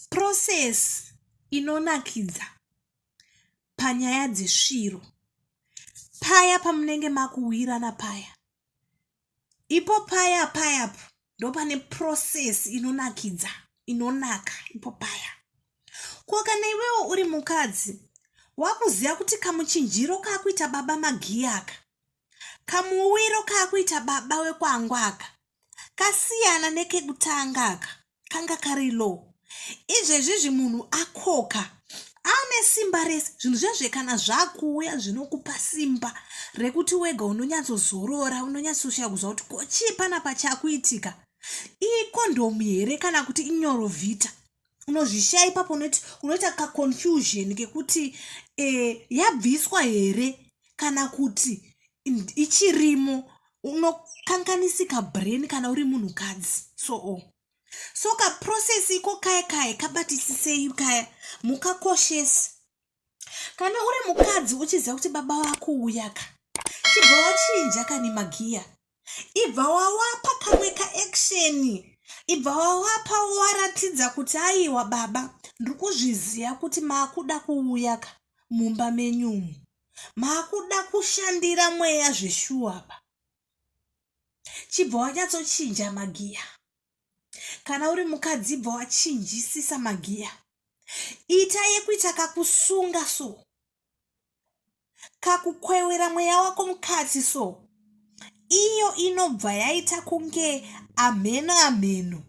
process inonakidza panyaya dzesviro paya pamunenge makuwirana paya ipo paya payapo ndopane process inonakidza inonaka ipo paya ko kana iwewo uri mukadzi wakuziva kuti kamuchinjiro kaakuita baba magiyaka kamuwiro kaakuita baba wekwangwaka kasiyana nekekutanga aka kanga kari low izvezvizvi munhu akoka ane simba rese zvinhu zvezve kana zvakuuya zvinokupa simba rekuti wega unonyatsozorora unonyatsoshaya kuziva kuti kochii panapa chakuitika ikondomu here kana kuti inyorovhita unozvishaya ipapo unoti unoita kaconfusion kekuti e, yabviswa here kana kuti ichirimo unokanganisika brain kana uri munhukadzi so oh. so kaprocess iko kaya kaya kabatisisei kaya mukakoshesi kana uri mukadzi uchiziva kuti baba vako uyaka chibva wachinja kani magiya ibva wawapa kamwe kaeksheni ibva wawapa waratidza kuti aiwa baba ndiri kuzviziva kuti maakuda kuuya ka mumba menyumu maakuda kushandira mweya zveshuwa pa chibva wanyatsochinja magiya kana uri mukadzi bva wachinjisisa magiya ita yekuita kakusunga so kakukwewera mweya wako mukati so iyo inobva yaita kunge amheno amheno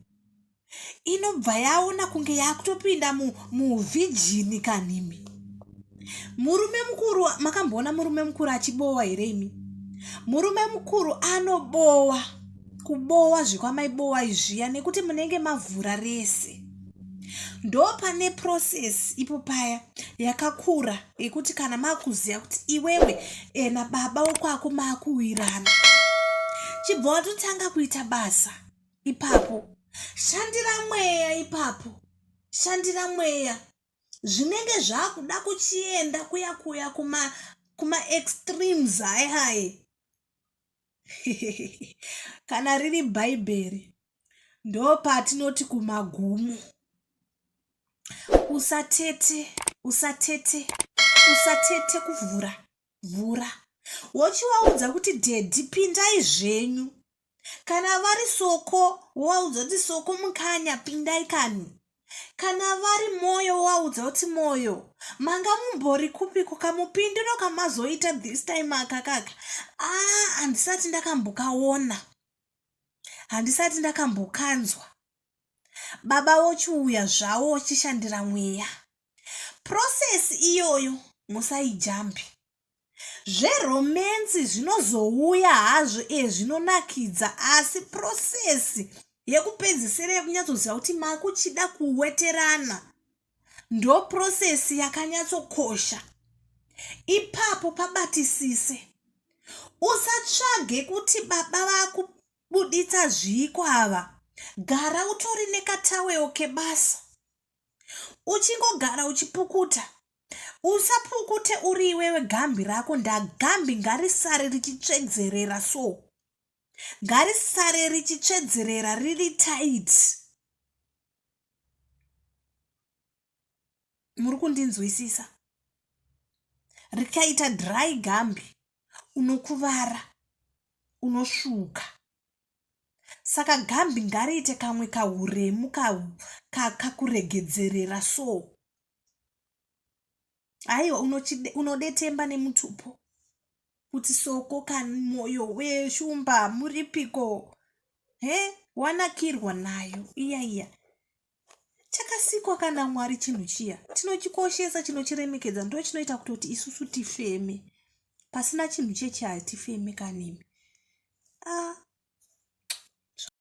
inobva yaona kunge yakutopinda muvhijini kanhimi murume mukuru makamboona murume mukuru achibowa here imi murume mukuru anobowa kubowa zvekwamaibowa izviya nekuti munenge mavhura rese ndopane process ipo paya yakakura yekuti kana makuziva kuti iwewe eh, nababa wekwako maakuwirana chibva watotanga kuita basa ipapo shandira mweya ipapo shandira mweya zvinenge zvakuda kuchienda kuya kuya kuma kuma extremes hayi hayi kana riri bhaibheri ndopatinoti kumagumo usatete usatete usatete kuvhura vhura wochivaudza kuti dhedhi pindai zvenyu kana vari soko wovaudza kuti soko mukanya pindai kani kana vari mwoyo wovaudza kuti mwoyo manga mumbori kupiko kamupindiro kamazoita this time akakaka aa ah, handisati ndakambokaona handisati ndakambokanzwa baba vochiuya zvavo vachishandira mweya process iyoyo musaijambi zveromensi zvinozouya hazvo e zvinonakidza asi process yekupedzisira yekunyatsoziva kuti makuchida kuweterana ndoprosesi yakanyatsokosha ipapo pabatisise usatsvage kuti baba vakubuditsa zviiko ava gara utori nekataweo kebasa uchingogara uchipukuta usapukute uri iwewe gambi rako ndagambi ngarisare richitsvedzerera so ngarisare richitsvedzerera riri taiti muri kundinzwisisa rikaita dry gambi unokuvara unosvuka saka gambi ngariite kamwe kahuremu kakuregedzerera ka, ka, so aiwa unodetemba nemutupo kuti soko kani mwoyo weshumba muripiko he wanakirwa nayo iya iya chakasikwa kana mwari chinhu chiya tinochikoshesa chinochiremekedza ndo chinoita kutoti isusu tifeme pasina chinhu chechi hatifeme kanimi ah.